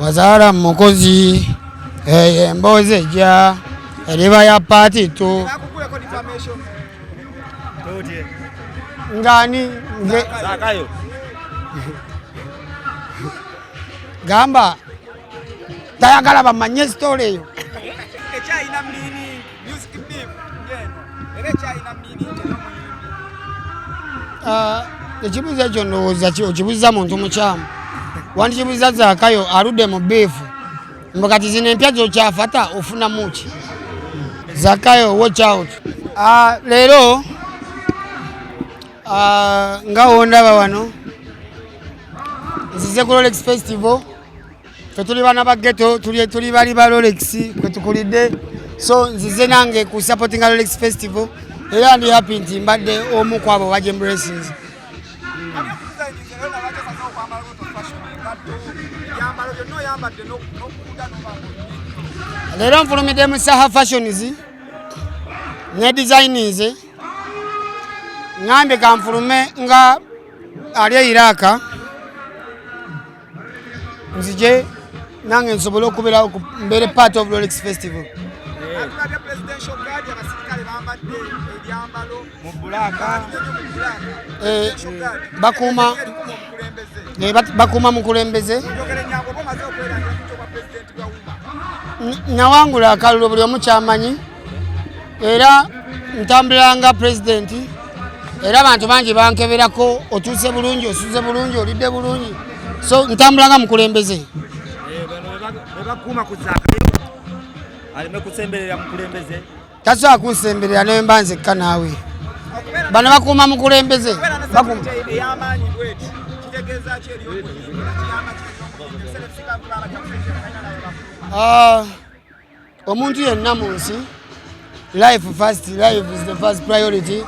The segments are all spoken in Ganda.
wazaala mukozi eyo emboozi ejja eriba ya paati tu ngani gamba tayagala bamanye sitole eyo Music beam yeno era kyalina mini ah, ekibuuzo ekyo ndowooza ki okibuuza muntu mukyamu wandikibuuza zakayo aludde mu biifu mbu kati zino empya zokyafata ofunamu ki zakayo watch out ah, leero ah, nga wondaba wano nzize ku rolex festival fe tuli bana ba ghetto tuli tuli bali ba Rolex kwe tukulide so nzize nange ku supporting Rolex festival era ndi happy nti mbadde omu kwabo wa Jembu Racing leero nfulumidde mu saha fashions ne designs ngambye kanfulume nga ali eiraka nzije nange nsobole okubeerawo mbeere part of rolex festival eh, bakuuma eh, bakuuma mukulembeze nawangula akalulu buli omu kyamanyi era ntambulanga pulezidenti era abantu bangi bankeberako otuuse bulungi osuze bulungi olidde bulungi so ntambulanga mukulembeze tasobola kunsemberera nemba nzekka naawe bano bakuuma mukulembeze Uh, omuntu yenna mu nsi life first life is the first priority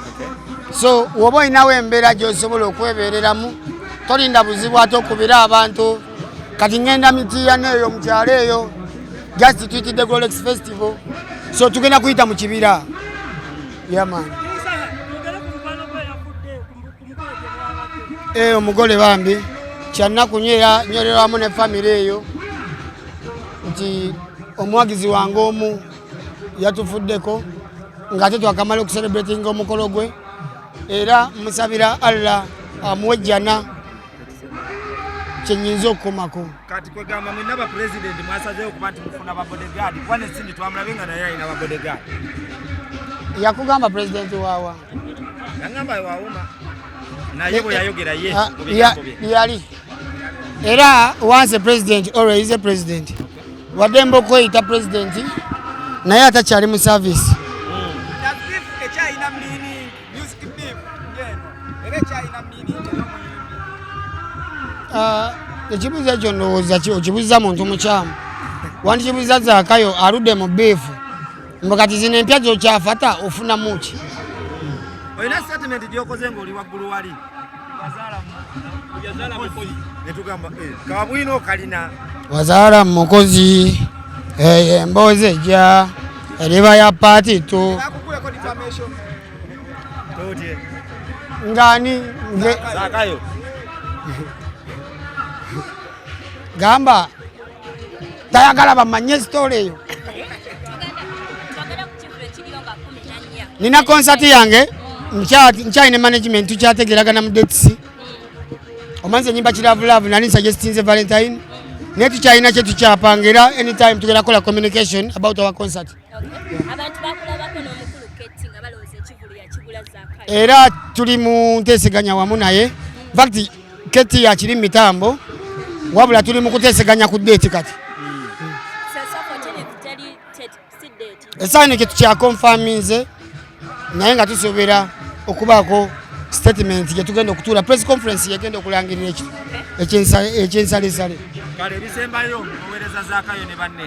so woba olinawo embeera gyosobola okwebeereramu tolinda buzibu ate okubire abantu kati ngenda mitiyana eyo mukyalo eyo just twitidde golex festival so tugenda kuyita mu kibira yaman yeah, Eh, omugole bambi kyannaku nyo era nyolerwamu ne famire eyo nti omuwagizi wange omu yatufuddeko ng'ate twakamala okuserebratinga omukolo gwe era musabira allah amuwe jjana kyenyinza okukomako kati kwegamba mwena bapulezidenti mwasazeyo okuba nti mufuna babodegaadi kuba nesindi twamulabe nga naye alina babodegaadi yakugamba pulezidenti waawa yangamba wawuma naye bwe yayogera ye ah, yali era once a president always is a president wademba okweyita president naye atakyali mu service ah, ekibuuzo ekyo ndowooza okibuuza muntu mukyamu wandikibuuza zakayo aludde mu biifu mbu kati zino empya zokyafata ofunamu ki olina statement gyokoze ngaoli waggulu wali netugamba eh, kabwino kalina wazaala mukozi eyo emboozi ejja eriba ya paati tu ngani gamba tayagala bamanye sitole eyo nina konsati yange nkyali ne management tukyategeragana mu dets omanzi enyimba kiravulavu nali nsuggestinze valentine naye tukyalina kyetukyapanga era anytime tugera kola communication about our concert era tuli mu nteseganya wamu naye fakti keti yakiri mitambo wabula tuli mu kuteseganya ku deeti kati esaanike tukyakonfaminze naye nga tusobera okubaako statement gye tugenda okutuula press conference yegenda okulangirira ekyensalisale kale ebisembayo owereza zakayo ne banne